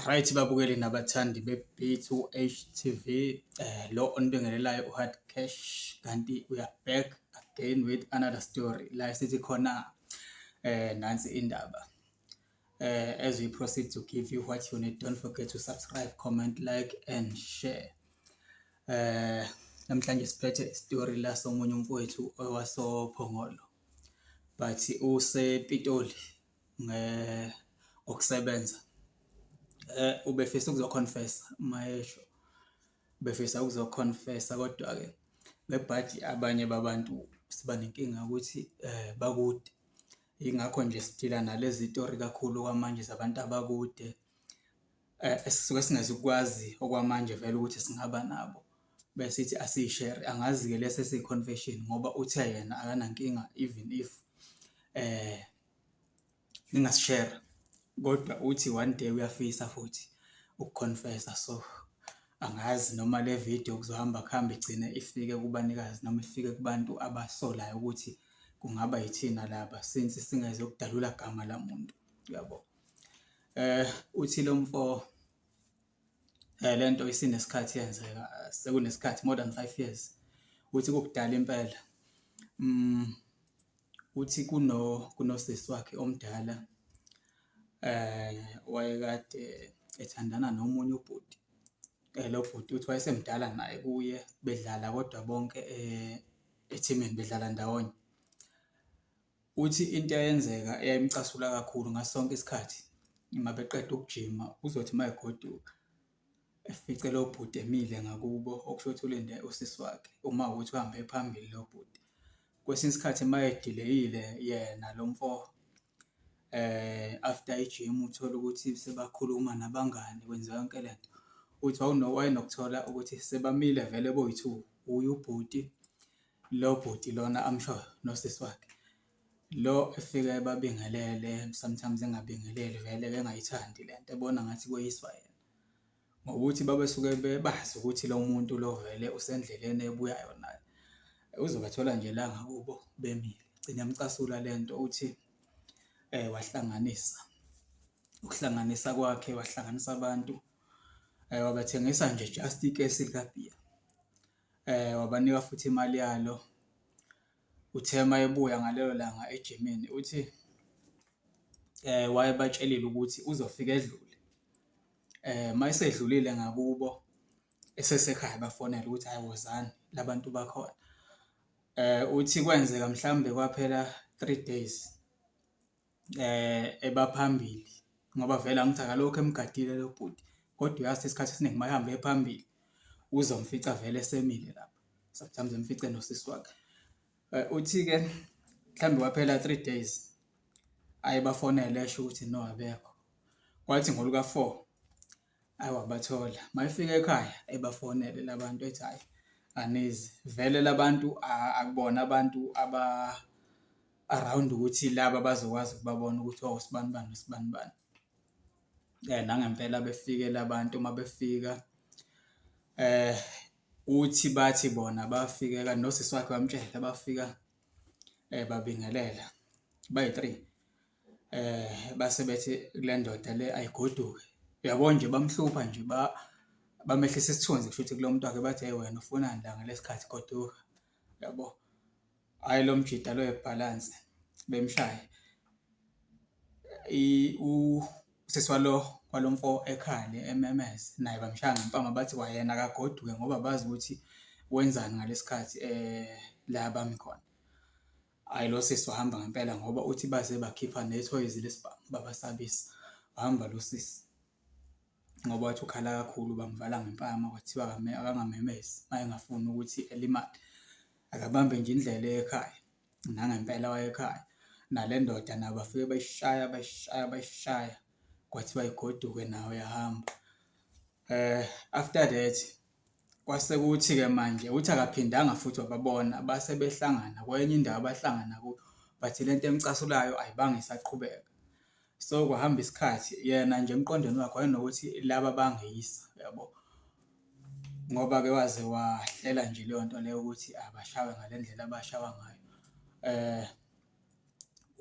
Right babukeli nabathandi be-Beat u-HTV eh, lo onibingelelayo u-Hard Cash kanti uya back again with another story la sithi khona eh nansi indaba eh as we proceed to give you what you need don't forget to subscribe comment like and share eh namhlanje siphethe story la somunye umfowethu owasophongolo but usepitoli ngokusebenza ubefisa ukuzokhonfesa mayesho befisa ukuzokhonfesa. Kodwa-ke ngebhadi abanye babantu siba nenkinga yokuthi bakude, yingakho nje siphila nalezi tori kakhulu okwamanje zabantu abakude esisuke singezukukwazi okwamanje vele ukuthi singaba nabo bese sithi asiyishere. Angazi-ke lesi esiyi-confession ngoba uthe yena akanankinga even if . ningasishera kodwa uthi one day uyafisa futhi ukukhonfesa so angazi noma le video kuzohamba kuhambe igcine ifike kubanikazi noma ifike kubantu abasolayo ukuthi kungaba yithina laba since singeze ukudalula gama lamuntu uyabo eh uthi lo mfo Eh le nto isinesikhathi yenzeka sekunesikhathi more than five years ukuthi kukudala impela. Uthi kuno kunosisi wakhe omdala wayekade ethandana nomunye ubhuti. Lo bhuti uthi wayesemdala naye kuye bedlala kodwa bonke ethimini bedlala ndawonye. Uthi into eyenzeka eyayimcasula kakhulu ngaso sonke isikhathi uma beqeda ukujima, uzothi uma egoduka efice lo bhuti emile ngakubo, okusho ukuthi ulinde usisi wakhe uma ukuthi uhambe phambili lo bhuti. Kwesinye isikhathi uma edileyile yena lo mfo eh, after ijim uthole ukuthi sebakhuluma nabangani kwenziwa yonke le nto, uthi wayenokuthola ukuthi sebamile vele boyi-two, wuye ubhuti Lo bhuti lona amshoyo nosisi wakhe lo efika ebabingelele sometimes engabingeleli vele bengayithandi le nto ebona ngathi kweyiswa yena ngokuthi babesuke bebazi ukuthi lo muntu lo vele usendleleni ebuyayo naye. Uzobathola nje la ngakubo bemile, igcine imcasula le nto uthi wahlanganisa, ukuhlanganisa kwakhe wahlanganisa abantu wabathengisa nje just ikesi likabhiya. wabanika futhi imali yalo. Uthe uma ebuya ngalelo langa ejimini uthi wayebatshelile ukuthi uzofika edlule. Uma esedlulile ngakubo esesekhaya bafonele ukuthi hhayi wozani la bantu bakhona. Uthi kwenzeka mhlawumbe kwaphela three days. eba phambili ngoba vele angithi akalokhu emgadile lo bhuti, kodwa uyazi isikhathi esiningi mayehambe eye phambili uzomfica avele esemile lapho, sometimes emfice nosisi wakhe. Uthi-ke mhlawumbe kwaphela three days aye bafonele esho ukuthi no abekho, kwathi ngoluka-four. Ayi wabathola, uma efika ekhaya ebafonele la bantu ethi hhayi anizi. Vele la bantu akubona abantu aba-around ukuthi laba bazokwazi ukubabona ukuthi osibani bani nosibani bani. Nangempela befike la bantu uma befika uthi bathi bona bafike kanti nosisi wakhe wamtshela bafika babingelela bayi-three. base bethi kule ndoda le ayigoduke. Uyabo nje bamhlupha nje bamehlisa isithunzi kushuthi kulo muntu wakhe bathi, hheyi wena ufunani la ngalesi khathi goduka, uyabo. Hhayi lo mjita lo webhalansi bemshaye usisi walo walo mfo ekhale ememeze naye bamshaya ngempama bathi kwayena akagoduke ngoba bazi ukuthi wenzani ngalesi khathi la bami khona. Hayi lo sisi wahamba ngempela ngoba uthi baze bakhipha nethoyizi lesibhamu babasabisa. Wahamba lo sisi ngoba wathi ukhala kakhulu bamvala ngempama kwathiwa akangamemezi uma engafuni ukuthi elimale. Akabambe nje indlela ekhaya nangempela wayekhaya nale ndoda nabo bafike bayishaya bayishaya bayishaya kwathiwa igoduke nayo yahamba. After that Kwase kuthi-ke manje uthi akaphindanga futhi wababona, base behlangana kwenye indawo abahlangana kuyo, but le nto emcasulayo ayibanga isaqhubeka. So, kwahamba isikhathi yena nje emqondweni wakhe wayenokuthi laba bangeyisa, uyabo? Ngoba-ke waze wahlela nje leyo nto leyo ukuthi abashawe ngale ndlela abashawa ngayo.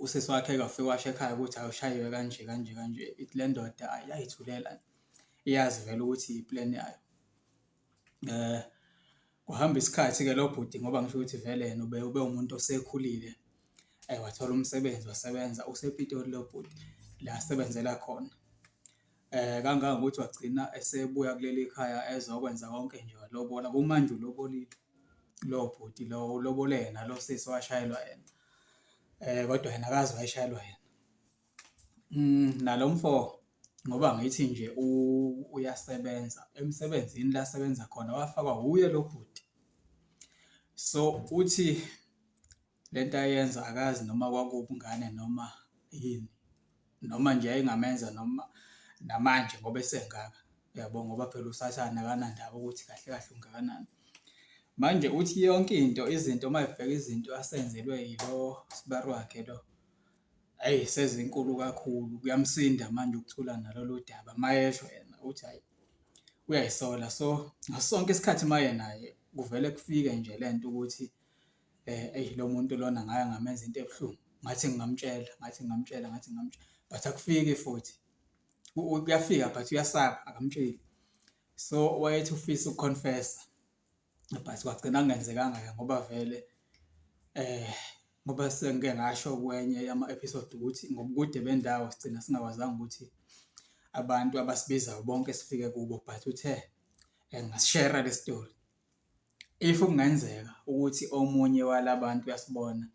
Usisi wakhe-ke wafika washo ekhaya ukuthi ayi ushayiwe kanje kanje kanje, ithi le ndoda ayi yayithulela nje. iyazi vele ukuthi i-plan yayo. Kuhamba isikhathi-ke lo bhuti ngoba ngisho ukuthi vele yena ube ube umuntu osekhulile wathola umsebenzi wasebenza usePitoli lo bhuti la asebenzela khona. Kangangokuthi wagcina esebuya kuleli khaya ezokwenza konke nje walobola, kumanje ulobolile lo bhuti lo ulobole yena lo sisi owashayelwa yena, kodwa yena akazi wayeshayelwa yena. Mm, nalo mfo ngoba ngithi nje uyasebenza emsebenzini la asebenza khona wafakwa wuye lo bhuti. So uthi le nto ayenza akazi noma kwakubungane noma yini noma nje yayingamenza noma namanje ngoba esengaka yabo ngoba phela usathane akanandaba ukuthi kahle kahle ungakanani. Manje uthi yonke into izinto uma ebheka izinto asenzelwe yilo sibari wakhe lo Ayi sezinkulu kakhulu, kuyamsinda manje ukuthula nalolu daba, uma esho yena uthi hhayi uyayisola. So, ngaso sonke isikhathi uma yenaye kuvele kufike nje le nto ukuthi eyi lo muntu lona ngake ngamenza into ebuhlungu, ngathi ngingamtshela, ngathi ngingamtshela, ngathi ngingamtshela, but akufiki futhi. Kuyafika but uyasaba, akamtsheli. So, wayethi ufisa uku-confess-a. but kwagcina kungenzekanga ke ngoba vele ngoba sengike ngasho kwenye yama-episode ukuthi ngobukude bendawo sigcina singakwazanga ukuthi abantu abasibizayo bonke sifike kubo but uthe ngasishera le story. If kungenzeka ukuthi omunye wala bantu uyasibona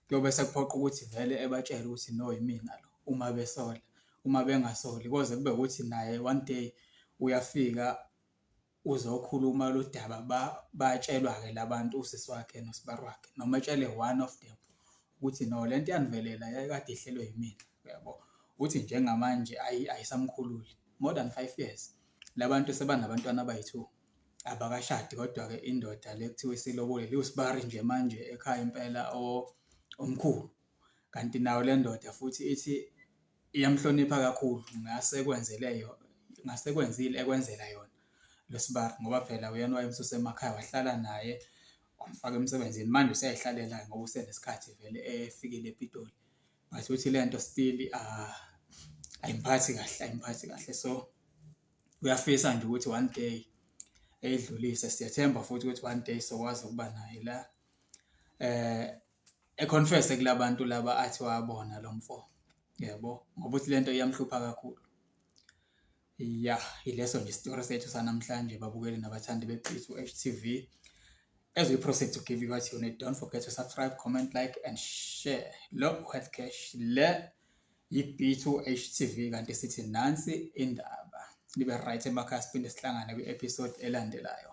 kuyobe sekuphoqa ukuthi vele ebatshele ukuthi no yimina lo uma besola, uma bengasoli koze kube ukuthi naye one day uyafika uzokhuluma lo daba batshelwa-ke la bantu usisi wakhe nosibari wakhe noma etshele one of them ukuthi no le nto yanivelela yayikade ihlelwe yimina uyabo uthi njengamanje ayisamkhululi more than five years la bantu sebanabantwana abayi-two abakashadi kodwa-ke indoda le kuthiwa isilobole liwusibari nje manje ekhaya impela omkhulu kanti nayo le ndoda futhi ithi Iyamhlonipha kakhulu, ngase ekwenzele yona, ngase ekwenzile ekwenzela yona lo sibari ngoba phela uyena owayemsusa emakhaya wahlala naye wamfaka emsebenzini. Manje useyayihlalela-ke ngoba usenesikhathi vele efikile ePitoli. But uthi le nto still ayimphathi kahle, ayimphathi kahle. So, uyafisa nje ukuthi one day eyidlulise. Siyethemba futhi ukuthi one day sokwazi ukuba naye la econfese kulabantu laba athi wabona lo mfo yebo ngoba uthi lento iyamhlupha kakhulu ya ileso nje isitori sethu sanamhlanje babukeli nabathandi beqhizu HTV as we proceed to give you what you need don't forget to subscribe comment like and share lo health cash le yi-b2 HTV kanti sithi nansi indaba libe right emakhaya siphinde sihlangane kwi-episode elandelayo